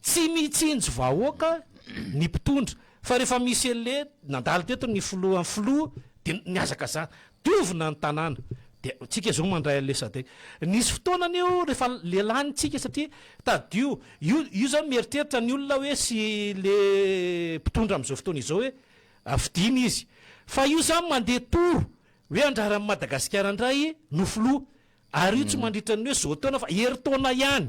Tsy mitsinjo vahoaka ny mpitondra fa rehefa misy anle nandalo teto ny filoha filoha de mihazakazaka diovina ny tanàna de tsika zao mandray anle sadc nisy fotoana anie o rehefa le lany tsika satria tadidio io io zany mieritreritra ny olona hoe sy le mpitondra amzao fotoana izao hoe fidina izy fa io zany mande tour hoe andraran'i madagasikara ndray no filoha Ary io tsy mandritra ny hoe zao taona fa herintaona ihany.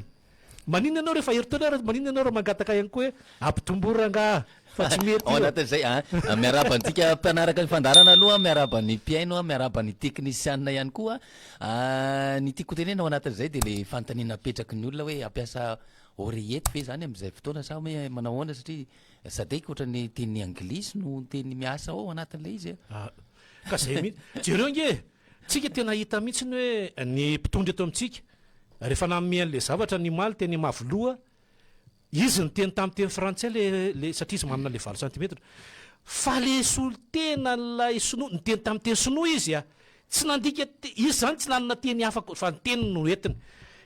Maninona ianao rehefa herintaona ary maninona ianao raha mangataka ihany koa hoe ampitomboy rangaha fa tsy mety io. Ao anatin'izay a, miarahaba antsika mpanaraka ny fandaharana aloha a, miarahaba ny mpihaino a, miarahaba ny teknisianina ihany koa a. Ny tiako hotenena ao anatin'izay dia ilay fanontaniana apetraky ny olona hoe hampiasa oreillette ve zany amin'izay fotoana sa hoe manao ahoana satria sadaiky ohatran'ny teny anglisy no teny miasa ao anatin'ilay izy a. Ka zay mihitsy. Jereo ange e! Tsika tena hita mihitsy ny hoe ny mpitondra eto amintsika rehefa nanome an'ilay zavatra ny omaly teny Mavoloha izy niteny tamin'ny teny frantsay le le satria izy manana le valo santimetatra fa le solotena ilay sinoa niteny tamin'ny teny sinoa izy a tsy nandika izy zany tsy nanana teny hafa fa ny teny no entiny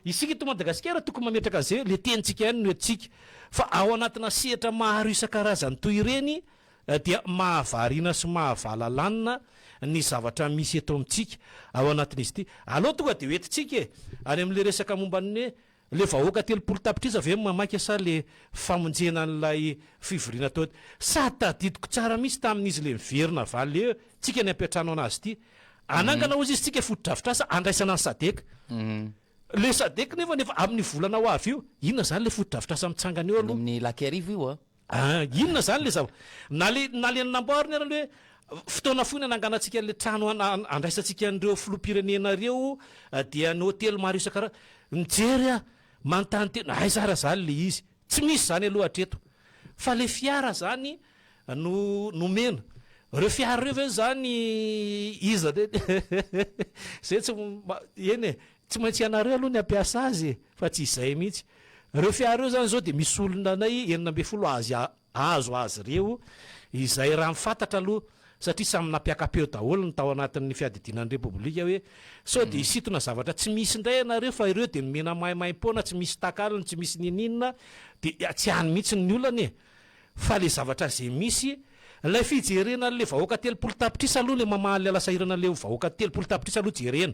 isika eto Madagasikara tokony mametraka an'izay le tenintsika ihany no entintsika fa ao anatina sehatra maro isan-karazany toy ireny dia mahavariana sy mahavalalanina ny zavatra misy eto amintsika ao anatin'izy ity. Aleo tonga dia hoentintsika e! Any amin'ilay resaka momba ny hoe ilay vahoaka telopolo tapitrisa ve no mamaika sa ilay famonjena an'ilay fivoriana tao ety? Sady tadidiko tsara mihitsy tamin'izy ilay miverina avy aleontsika ny hampiantrano an'azy ity. Hanangana hozy izy tsika fotodrafitrasa handraisana ny sadec. Ilay sadec nefany efa amin'ny volana ho avy io. Inona izany ilay fotodrafitrasa mitsangana eo aloha? Any amin'ny Ilakerivo io an! Ah, inona izany ilay zava-, na ilay, na ilay namboariny ary aloha hoe fotoana fohy no hananganantsika an'ilay trano han, han, handraisantsika an'ireo filoham-pirenena ireo, dia ny hotely maro isan-kara-, mijery aho, manontany tena, aiza ary izany ilay izy? Tsy misy izany aloha hatreto. Fa ilay fiara izany no nomena. Ireo fiara ireo ve izany iza, izay tsy, eny e, Tsy maintsy ianareo aloha ny hampiasa azy e! Fa tsy izay mihitsy. Ireo fiara ireo izany izao dia misy olona anay enina ambin'ny folo azy azo azy ireo izay raha ny fantatra aloha satria samy nampiaka-peo daholo ny tao anatin'ny fiadidiana ny Repoblika hoe sao dia hisintona zavatra tsy misy indray ianareo fa ireo dia nomena maimaim-poana tsy misy takalony tsy misy niniana dia tsy any mihitsy ny olana e! Fa ilay zavatra izay misy ilay fijerena an'ilay vahoaka telopolo tapitrisa aloha ilay mamaha ilay lasa irana ilay vahoaka telopolo tapitrisa aloha jerena.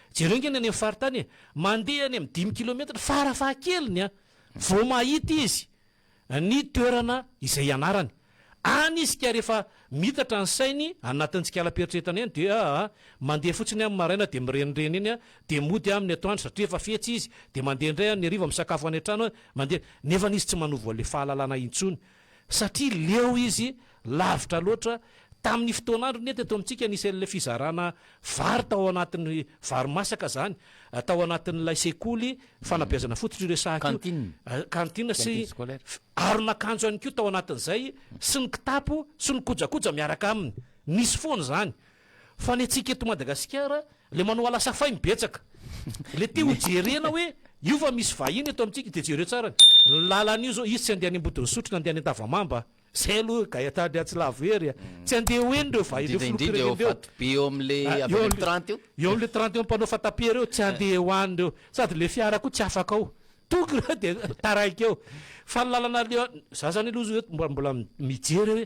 Jereo nge ny any amin'ny faritany e! Mandeha any amin'ny dimy kilometatra fara fahakeliny an! vao mahita izy ny toerana izay hianarany. Any izy ka rehefa miitatra ny sainy anatin'ny tsikalaperitreretana eny dia aa mandeha fotsiny amin'ny maraina dia mirenireny eny an! dia mody amin'ny atoandro satria efa fetsy izy dia mandeha indray amin'ny hariva misakafo any an-trano an! mandeha. Nefany izy tsy manovo an'ilay fahalalana intsony satria leo izy lavitra loatra tamin'ny fotoan'androny eto eto amintsika nisy an'ilay fizarana vary tao anatin'ny vary masaka izany tao anatin'ilay sekoly fanabeazana fototra io resahako io Cantine. cantine sy Cantine scolaire. f- aron'akanjo ihany koa tao anatin'izay sy ny kitapo sy ny kojakoja miaraka aminy nisy foana izany Fa ny antsika eto Madagasikara le manao alasa fay ny betsaka le te ho jerena hoe io fa misy vahiny eto amintsika de jereo tsara ny lalana io zao izy tsy andeha any Ambodin'Isotry na andeha any Antavamamba zay aloha gay atao andriatsy lavo hery a tsy andeha ho eny reo vahiny reo filoha-pirenena reo eo eo amle trente eo mpanao fatapera eo tsy andeha ho any reo sady le fiara koa tsy afaka ao toko reo de taraiky eo fa ny lalana aleo za zany aloha zao eto mbola mijery hoe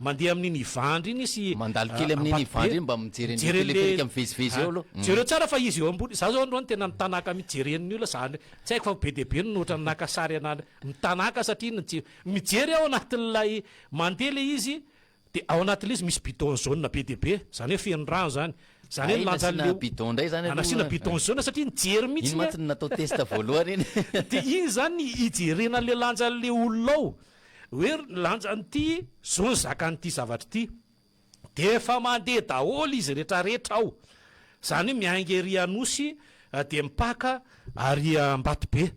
Mandeha amin'iny Ivandry iny sy Mandalo kely amin'iny Ivandry iny mba mijery an'ilay teleferika mivezivezy eo aloha. Jereo tsara fa izy eo ambony, za zao androany tena nitanaka mihitsy jeren'ny olona za any, tsy haiko fa be dia be ny ohatran'ny naka sary ana any, mitanaka satria ny tsy, mijery ao anatin'ilay, mandeha ilay izy dia ao anatin'ilay izy misy bidon jaune be dia be, izany hoe feno rano izany, izany hoe ny lanjan'ilay, Hay nasiana bidon indray izany aloha, nasiana bidon jaune satria nijery mihitsy iny an. Iny mantsy no natao test voalohany iny. Dia iny izany ny hijerena an'ilay lanjan'ilay olona ao, Hoe ry ny lanjan'ity zo ny zakan'ity zavatra ity dia efa mandeha daholo izy retraretra ao zany hoe miainga ery Anosy dia mipaka ary Ambatobe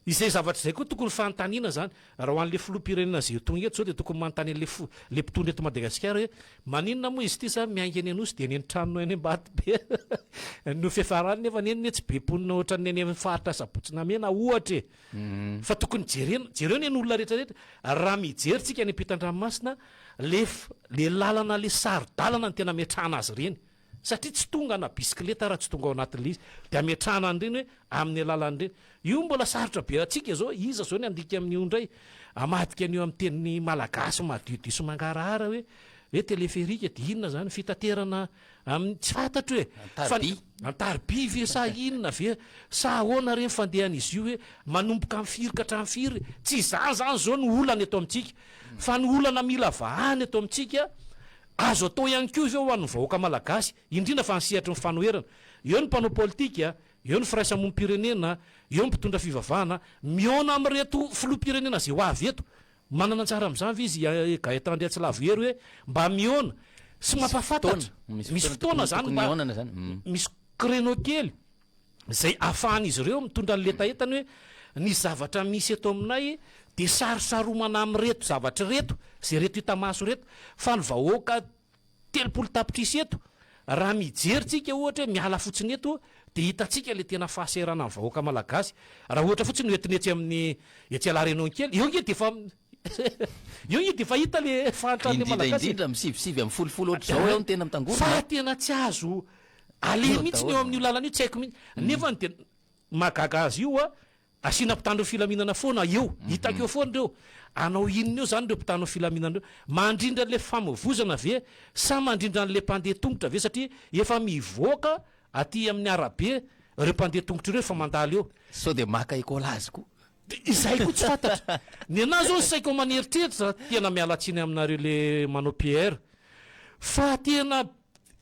izay zavatra izay koa tokony fanontaniana zany raha ho an'le filoham-pirenena izay ho tonga eto zao dia tokony manontany an'le fo le mpitondra eto Madagasikara hoe maninona moa izy ity sa miainga eny Anosy dia eny amin'ny tranony any Ambatobe no fiafarany nefa eny anie tsy be mponina ohatran'ny any amin'ny faritra Sabotsy Namena ohatra e! Fa tokony jerena, jereo anie ny olona rehetra rehetra. Raha mijery tsika any ampitan-dranomasina, lef, le lalana le saro-dalana no tena ametrahana azy ireny. Satria tsy tonga na bisikileta raha tsy tonga ao anatin'le izy. De ametrahana an'ireny hoe amin'ny alalany ireny. Io mbola sarotra be antsika izao, iza izao ny handika amin'io indray? Hamadika an'io amin'ny teny malagasy madiodio sy mangarahara hoe, hoe teleferika de inona izany? Fitaterana. Amin'ny, tsy fantatro e! An-tariby? An-tariby ve sa inona ve? Sa ahoana re ny fandehan'izy io hoe manomboka amin'ny firy ka hatramin'ny firy? Tsy izany izany izao no olana eto amintsika. Fa ny olana mila vahana eto amintsika, azo atao ihany koa ve ho an'ny vahoaka malagasy, indrindra fa ny sehatry ny fanoherana? Eo ny mpanao politika, eo ny firaisamonim-pirenena, eo ny mpitondra fivavahana, mihaona amin'ireto filoham-pirenena izay ho avy eto, Manana anjara amin'izany ve izy i Gaëtan Andriantsilavo Hery hoe mba mihaona sy mampahafantatra? Misy fotoana izany mba misy créneau kely izay ahafahan'izy ireo mitondra ny letahetany hoe ny zavatra misy eto aminay dia sarosaromana amin'ireto zavatra ireto, izay ireto hita maso ireto fa ny vahoaka Telopolo tapitrisa eto, raha mijery tsika ohatra hoe miala fotsiny eto dia hitantsika ilay tena fahasahiranan'ny vahoaka malagasy, raha ohatra fotsiny ho entina etsy amin'ny etsy Alarenon'kely, eo nge dia efa eo nge dia efa hita ilay fahantran'ilay Indrindra malagasy e! indrindra amin'ny sivy sivy amby folo folo ohatra izao eo no tena mitangorona Fa a! tena tsy azo aleha Eo mihitsy ny eo daholo. amin'io lalana io, tsy haiko mihitsy, nefany dia mahagaga azy io a, Asiana mpitandro filaminana foana eo, hitako eo foana ireo, hanao inona eo izany ireo mpitandro filaminana ireo? Mandrindra an'ilay famovoizana ve sa mandrindra an'ilay mpandeha tongotra ve satria efa mivoaka aty amin'ny arabe ireo mpandeha tongotra ireo efa mandalo eo. Sao dia maka écolage koa? Dia izay koa tsy fantatro. Ny anah izao ny saiko aman'eritreritra, tena miala tsiny aminareo le manao PR, fa tena.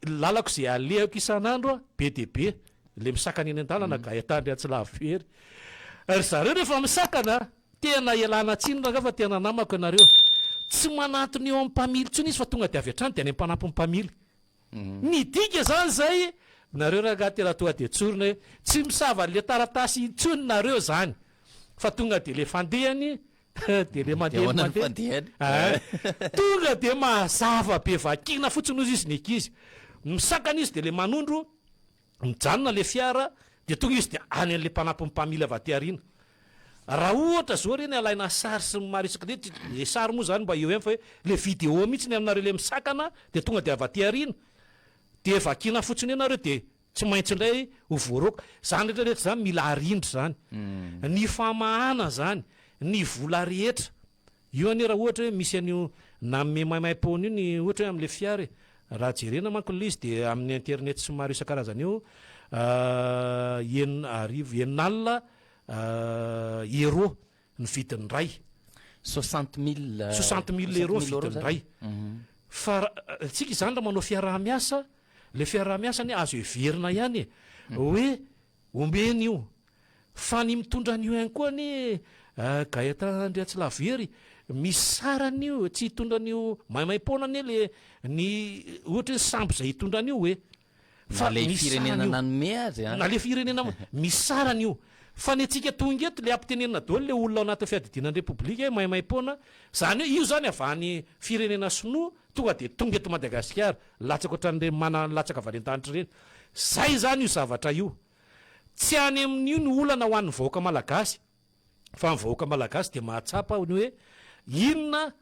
Lalako izay alehako isan'andro a, be dia be ilay misakana eny an-dalana ka ahitandry atsy lavitra ery. Ry zareo rehefa misakana a, tena ialana tsiny rangahy fa tena namako ianareo. Tsy manantona eo amin'ny mpamily intsony izy fa tonga dia avy hatrany dia any am-panampin'ny mpamily. Midika izany izay nareo rangahy aty raha tonga dia tsorina hoe tsy misava an'ilay taratasy intsony nareo izany fa tonga dia ilay fandehany Dia le mandeha Dia ahoana no mandeha. fandehany? Aa tonga dia mazava be vakina fotsiny hozy izy ny ankizy. Misakana izy dia le manondro, mijanona le fiara dia tonga izy dia any an'le mpanampin'ny mpamily avy aty aoriana. Raha ohatra zao re ny alaina sary sy ny maro isak'izay, le sary moa zany mba eo ihany fa hoe le video mihitsy ny aminareo le misakana dia tonga dia avy aty aoriana dia vakina fotsiny eo nareo dia Tsy maintsy indray ho voaroaka. Izany rehetra rehetra izany mila arindra izany. Ny famahana izany, ny vola rehetra. Io anie raha ohatra hoe misy an'io nanome maimaim-poana io ny ohatra hoe amin'ilay fiara e. Raha jerena manko ilay izy dia amin'ny internet sy ny maro isan-karazany eo enina arivo, enina alina euros ny vidin'ny iray. Soixante mille. Soixante mille euros ny vidin'ny iray. Fa antsika izany raha manao fiaraha-miasa, ilay fiaraha-miasa anie azo heverina ihany e, hoe omeny io. Fa ny mitondra an'io ihany koa anie Gaëtan Andriatsilavo Hery, misy sarany io, tsy hitondra an'io maimaim-poana anie le ny ohatra hoe sambo izay hitondra an'io e. Fa misarany io. Na le firenena nanome azy an. Na le firenena misarany io. Fa ny antsika tonga eto le ampitenenina doly le olona ao anatin'ny fiadidiana ny repoblika hoe maimaimpoana, zany hoe io zany avy any firenena sinoa tonga de tonga eto Madagasikara, latsaka otran'ireny mana latsaka valentagnitra ireny. Zay zany io zavatra io. Tsy any amin'io ny olana ho an'ny vahoaka malagasy. fa ny vahoaka malagasy dia mahatsapa ny hoe inona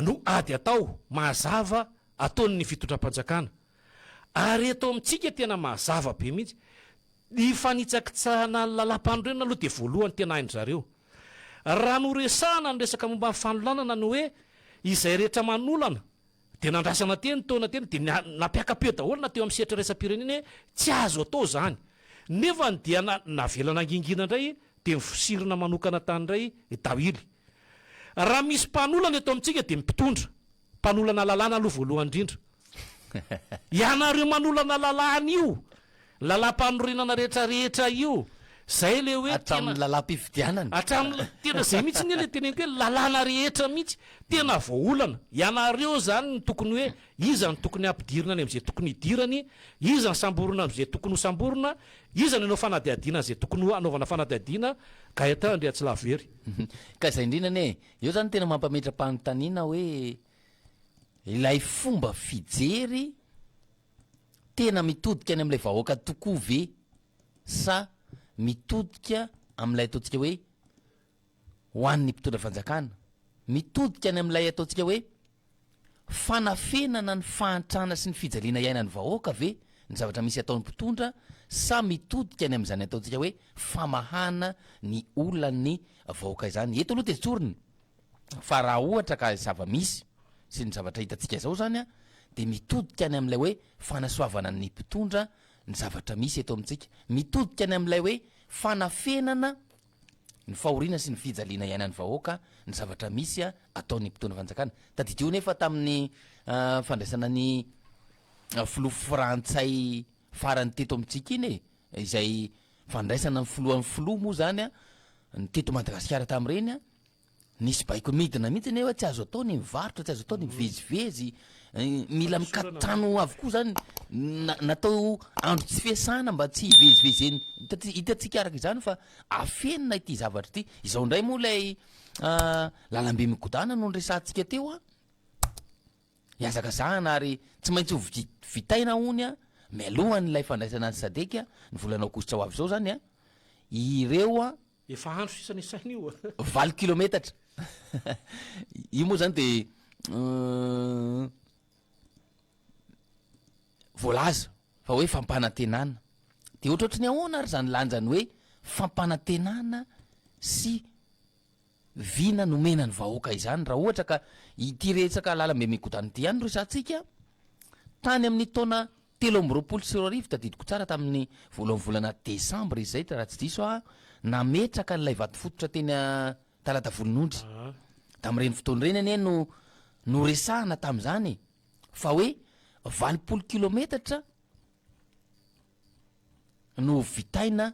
no ady atao mazava ataon'ny fitondram-panjakana ary eto amintsika tena mazava be mihitsy ny fanitsakitsahana ny lalam-panorenana aloha dia voalohany tena hain-dry zareo raha noresahana ny resaka momba ny fanolanana ny hoe izay rehetra manolana Dia nandrasana teny taona teny dia nampiaka-peo daholo na teo amin'ny sehatra iraisam-pirenena hoe tsy azo atao izany. Nefa dia navela nangingina indray dia nivosirina manokana tany indray i Dawili. Raha misy mpanolana eto amintsika dia ny mpitondra, mpanolana lalàna aloha voalohany indrindra. Ianareo manolana lalàna io Lalampanorenana rehetra rehetra io zay le hoe tena hatramin'ny tena zay mihitsy anie le teneniko hoe lalàna rehetra mihitsy tena voaolana ianareo zany no tokony hoe iza no tokony hampidirina any am'zay tokony hidirany iza ny samborina am'zay tokony ho samborina iza ny hanao fanadihadiana an'zay tokony ho hanaovana fanadihadiana Gaëtan Andriatsilavo Hery Ka zay indrindra anie e eo zany tena mampametra-panontaniana hoe ilay fomba fijery tena mitodika any amin'ilay vahoaka tokoa ve sa mitodika amin'ilay ataontsika hoe ho an'ny mpitondra fanjakana? Mitodika any amin'ilay ataontsika hoe fanafenana ny fahantrana sy ny fijaliana iainan'ny vahoaka ve ny zavatra misy ataon'ny mpitondra sa mitodika any amin'izany ataontsika hoe famahana ny olan'ny vahoaka izany? Eto aloha dia tsorina fa raha ohatra ka zava-misy sy ny zavatra hitantsika izao izany an, dia mitodika any amin'ilay hoe fanasoavana ny mpitondra ny zavatra misy eto amintsika, mitodika any amin'ilay hoe fanafenana ny fahoriana sy ny fijaliana iainan'ny vahoaka ny zavatra misy ataon'ny mpitondra fanjakana. Tadidio anie fa tamin'ny fandraisana ny filoha frantsay farany teto amintsika iny e, izay fandraisana ny filohan'ny filoha moa izany an, ny teto Madagasikara tamin'ireny an, Nisy baiko midina mihitsy anie hoe tsy azo atao ny mivarotra, tsy azo atao ny mivezivezy, mila mikaton-trano avokoa zany na- natao andro tsy fiasana mba tsy hivezivezen'ny hitantsika hitantsika araka izany fa afenina ity zavatra ity, izao indray moa lay lalambe migodàna no niresahantsika teo an, hihazakazahana ary tsy maintsy ho vi- vitaina hono an, mialohan'ilay fandraisana an'i Sadec ny volana aogositra ho avy izao zany an, ireo an. Efa andro sisa nisaina io a. Valo kilometatra. Io moa zany de voalaza fa hoe fampanantenana. De ohatrohatry ny ahoana ary zany lanjany hoe fampanantenana sy vina nomena ny vahoaka izany raha ohatra ka ity retsaka lalambe migodana ity ihany no resahantsika tany amin'ny taona Telo amby roapolo sy roa arivo, tadidiko tsara tamin'ny voalohan'ny volana desambra izy izay raha tsy diso aho, nametraka an'ilay vatofototra teny Talatavolonondry. Tamin'ireny fotoana ireny anie no noresahana tamin'izany e! fa hoe valopolo kilometatra no vitaina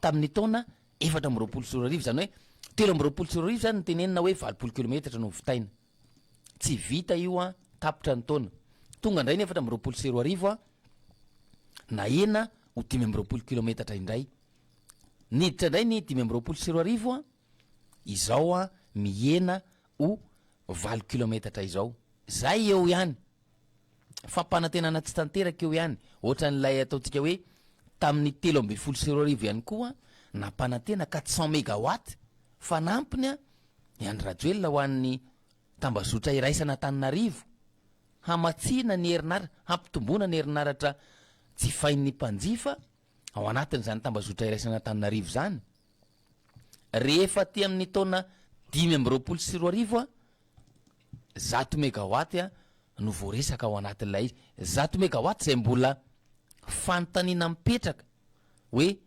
tamin'ny taona efatra amby roapolo sy roa arivo, izany hoe telo amby roapolo sy roa arivo izany no tenenina hoe valopolo kilometatra no hovitaina. Tsy vita io an, tapitra ny taona. Tonga indray ny efatra amby roapolo sy roa arivo an, nahena ho dimy amby roapolo kilometatra indray. Niditra indray ny dimy amby roapolo sy roa arivo an, izao an, mihena ho valo kilometatra izao. Izay eo ihany. fampanantenana tsy tanteraka eo ihany, ohatran'ilay ataontsika hoe tamin'ny telo ambin'ny folo sy roa arivo ihany koa nampanantena quatre cent megawatt fanampiny i Andry Rajoelina ho an'ny tambazotra iraisana Antananarivo hamatsiana ny herinaratra, hampitomboana ny herinaratra jifain'ny mpanjifa. ao anatin'izany tambazotra iraisan'Antananarivo izany. Rehefa aty amin'ny taona dimy amby roapolo sy roa arivo a, zato megawatt a no voaresaka ao anatin'ilay izy. Zato megawatt izay mbola fanontaniana mipetraka hoe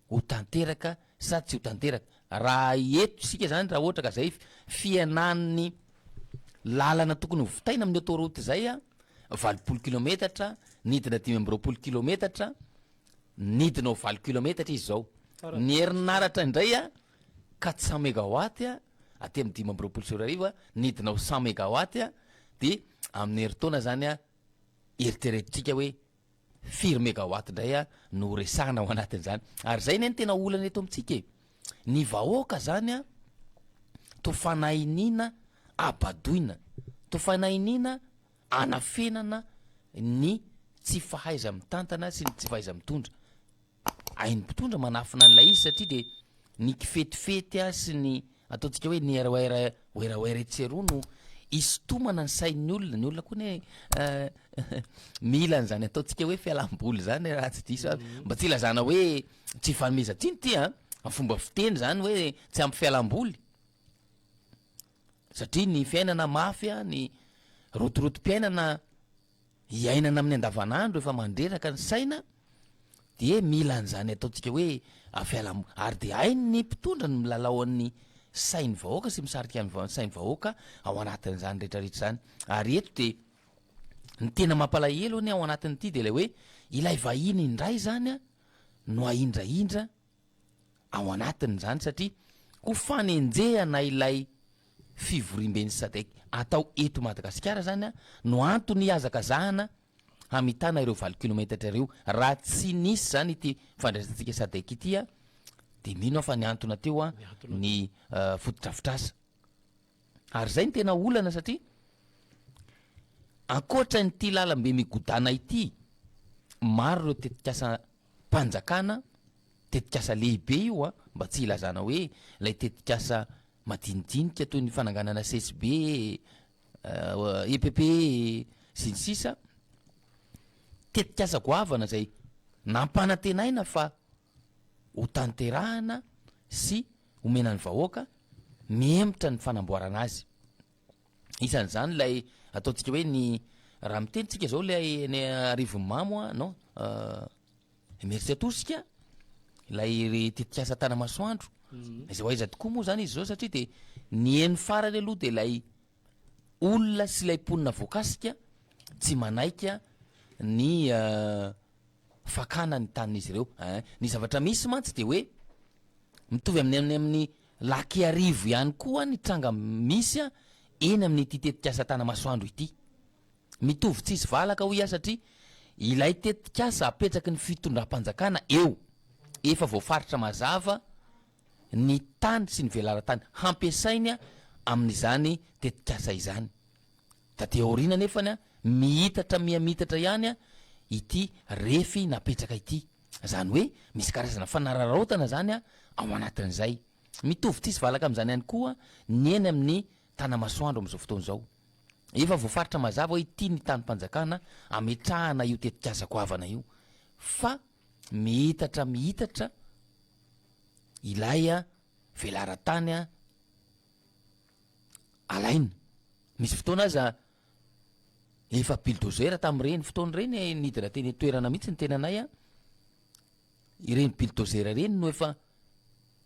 ho tanteraka Sady tsy ho tanteraka. Raha eto isika izany, raha ohatra ka izay fihenan'ny lalana tokony ho vitaina amin'ny autoroute izay, valopolo kilometatra, nidina dimy amby roapolo kilometatra, nidina ho valo kilometatra izy izao. Ny herinaratra indray quatre cent megawatt aty amin'ny dimy amby roapolo sy roa arivo, nidina ho cent megawatt, dia amin'ny herintaona izany, eritreretintsika hoe Firy megawatt indray a no ho resahana ao anatin'izany? Ary zay anie no tena olana eto amintsika e! Ny vahoaka zany a to fanahiniana abadoina, to fanahiniana anafenana ny tsy fahaiza-mitantana sy ny tsy fahaiza-mitondra. Hain'ny mpitondra manafina an'ilay izy satria dia ny kifetifety sy ny ataontsika hoe ny ROR werawera etsy sy eroa no isintomana ny sain'ny olona, ny olona koa anie mila an'izany ataontsika hoe fialam-boly izany raha tsy diso aho, mba tsy ilazana hoe tsy ifanomezan-tsiny ity an, fomba fiteny izany hoe tsy ampy fialam-boly satria ny fiainana mafy an, ny rotorotom-piainana iainana amin'ny andavanandro efa mandreraka ny saina dia mila an'izany ataontsika hoe fialam ary dia hain'ny mpitondra ny milalao an'ny sain'ny vahoaka sy misarika ny va sain'ny vahoaka ao anatin'izany retraretra izany ary eto dia ny tena mampalahelo anie ao anatin'ity dia ilay hoe ilay vahiny indray izany a no ahindrahindra ao anatiny izany satria ho fanenjehana ilay fivoriamben'ny Sadec atao eto Madagasikara izany no antony hihazakazahana hamitana ireo valo kilometatra ireo. Raha tsy nisy izany ity fandraisantsika Sadec ity dia mino aho fa nihantona teo ny fotodrafitrasa. Ary izay no tena olana satria ankoatra an'ity lalambe migodàna ity, maro ireo tetikasa mpanjakana, tetikasa lehibe io an, mba tsy hilazana hoe ilay tetikasa madinidinika toy ny fananganana CSB eh, EPP sy ny sisa tetikasa goavana izay nampanantenaina fa ho tanterahana sy homena ny vahoaka mihemotra ny fanamboarana azy. Isan'izany ilay ataontsika hoe ny raha miteny tsika izao ilay ny arivomamo a non emertsy atosika ilay ry tetikasa tanamasoandro izay ho aiza tokoa moa zany izy zao satria dia ny eny farany aloha dia ilay olona sy ilay mponina voakasika tsy manaika ny fakana ny tanin'izy ireo eh. Ny zavatra misy mantsy dia hoe mitovy amin'ny any amin'ny Lac-Iarivo ihany koa ny tranga misy eny amin'ity tetikasa Tanamasoandro ity. Mitovy tsisy valaka hoy aho satria ilay tetikasa apetraky ny fitondram-panjakana eo, efa voafaritra mazava ny tany sy ny velaran-tany hampiasainy amin'izany tetikasa izany. Taty aoriana anefany a, miitatra mihamitatra ihany a ity refy napetraka ity. Izany hoe misy karazana fanararaotana izany a ao anatin'izay. Mitovy tia sy valaka amin'izany ihany koa ny eny amin'ny Tanamasoandro amin'izao fotoana izao. Efa voafaritra mazava hoe ity ny tanim-panjakana ametrahana io tetikasa goavana io fa miitatra miitatra ilay velaran-tany a. alaina. Nisy fotoana aza efa bulldozer tamin'ireny fotoana ireny nidina teny an-toerana mihitsy ny tenanay an, ireny bulldozer ireny no efa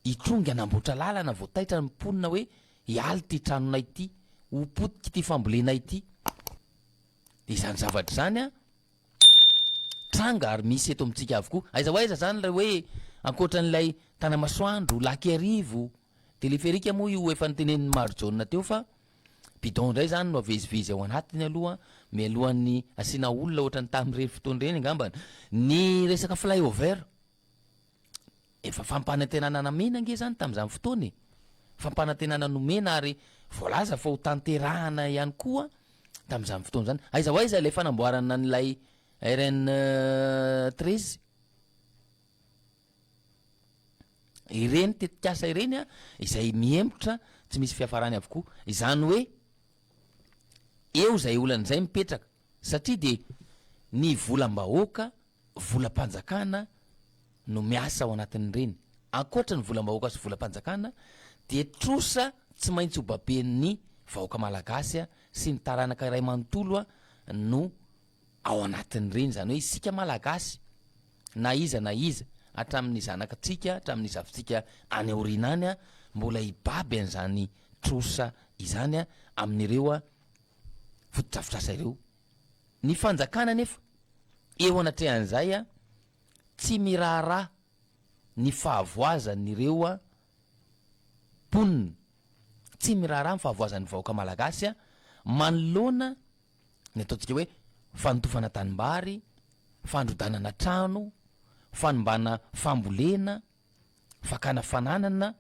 hitrongy hanamboatra lalana vao taitra ny mponina hoe hiala ity tranonay ity, ho potika ity fambolena ity. Dia izany zavatra izany an, tranga ary misy eto amintsika avokoa. Aiza ho aiza izany ilay hoe ankoatran'ilay Tanamasoandro, Lac Iarivo, Teleferika moa io efa notenenin'i Marijaona teo fa bidon indray izany no avezivezy ao anatiny aloha mialohan'ny asiana olona ohatran'ny tamin'ireny fotoana ireny angambany. Ny resaka flyover, efa fampanantenana namena ange izany tamin'izany fotoana e! Fampanantenana nomena ary voalaza fa ho tanterahana ihany koa tamin'izany fotoana izany. Aiza ho aiza ilay fanamboarana an'ilay RN treize? Ireny tetikasa ireny izay mihemotra tsy misy fiafarany avokoa. Izany hoe eo izay olana izay mipetraka satria dia ny volam-bahoaka, volam-panjakana no miasa ao anatin'ireny. Ankoatra ny volam-bahoaka sy volam-panjakana dia trosa tsy maintsy hobaben'ny vahoaka malagasy sy ny taranaka iray manontolo no ao anatin'ireny, izany hoe isika Malagasy, na iza na iza, hatramin'ny zanakatsika, hatramin'ny zafintsika any aoriana any, mbola hibaby an'izany trosa izany amin'ireo fotodrafitrasa ireo. Ny fanjakana anefa, eo anatrehan'izay, tsy miraharaha ny fahavoazan'ireo mponina, tsy miraharaha ny fahavoazan'ny vahoaka Malagasy manoloana ny ataontsika hoe fanotofana tanimbary, fandrodanana trano, fanimbana fambolena, fakana fananana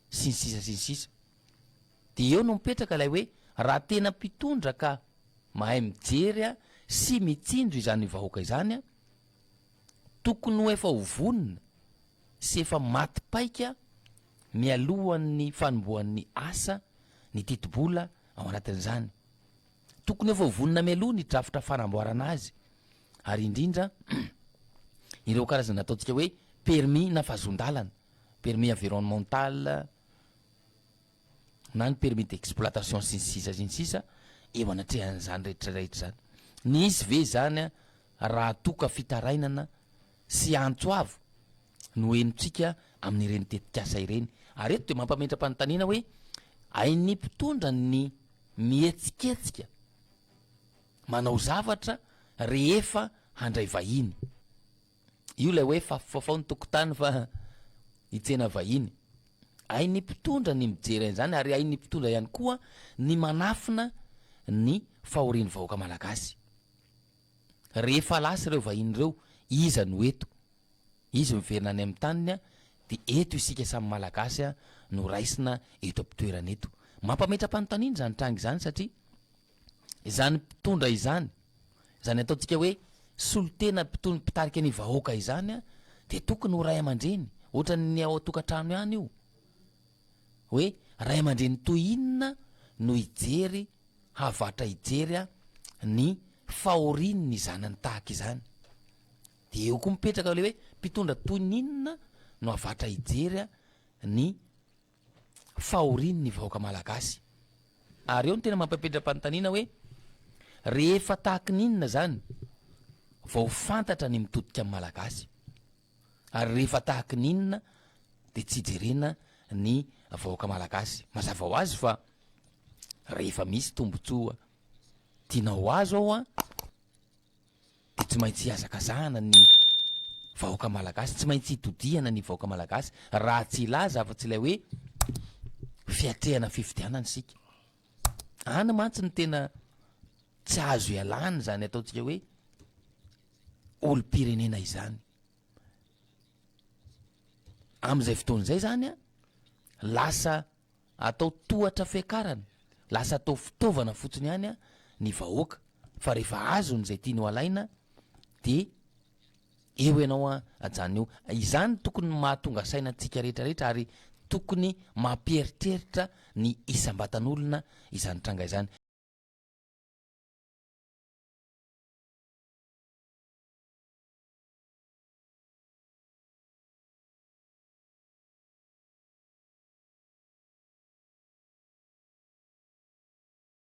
sy ny sisa sy ny sisa. De eo no mipetraka ilay hoe raha tena mpitondra ka mahay mijery a sy mitsinjo izany vahoaka izany a, tokony ho efa ho vonona sy efa maty paika mialohan'ny fanombohan'ny asa ny tetibola ao anatin'izany. Tokony efa ho vonona mialoha ny drafitra fanamboarana azy ary indrindra ireo karazana ataontsika hoe permis na vazon-dalana, permis environnemental na ny permis d'exploitation sy ny sisa sy ny sisa eo anatrehan'izany rehetra rehetra izany. Nisy ve izany raha toa ka fitarainana sy antso avo? no henontsika amin'ireny tetikasa ireny. Ary eto dia mampametra-panontaniana hoe hain'ny mpitondra ny mihetsiketsika manao zavatra rehefa handray vahiny. Io ilay hoe fafofafao ny tokotany fa hitsena vahiny. Hain'ny mpitondra ny mijery an'izany ary hain'ny mpitondra ihany koa ny manafina ny fahorian'ny vahoaka malagasy. Rehefa lasa ireo vahiny ireo, iza no eto? Izy miverina any amin'ny taniny an, dia eto isika samy Malagasy an no raisina eto am-pitoerana eto. Mampametra-panontaniana izany tranga izany satria izany mpitondra izany, izany ataontsika hoe solontena mpitondra mpitarika ny vahoaka izany an, dia tokony ho ray aman-dreny, ohatran'ny ao an-tokantrano ihany io, hoe ray aman-dreny toy inona no hijery havatra hijery ny fahorian' ny zanany tahaka izany, dia eo koa mipetraka ilay hoe mpitondra toy ny inona no havatra hijery ny fahorian' ny vahoaka malagasy, ary eo no tena mampipetram-panontaniana hoe rehefa tahaka ny inona izany vao fantatra ny mitodika ny malagasy. ary rehefa tahaky ny inona de tsy jerena ny vahoaka malagasy, mazava ho azy fa rehefa misy tombotsoa tianao ho azo ao an, de tsy maintsy ihazakazahana ny vahoaka malagasy, tsy maintsy itodihana ny vahoaka malagasy raha tsy hilaza afa-tsy ilay hoe fiatrehana fifidianana isika. Any mantsy ny tena tsy azo ialana izany ataontsika hoe olom-pirenena izany. Amin'izay fotoana izay zany a, lasa atao tohatra fiakarana, lasa atao fitaovana fotsiny ihany ny vahoaka fa rehefa azony izay tiany ho alaina dia. Eo ianao an, ajanony eo. Izany tokony ny mahatonga saina antsika rehetra rehetra ary tokony mampieritreritra ny isam-batan'olona izany tranga izany.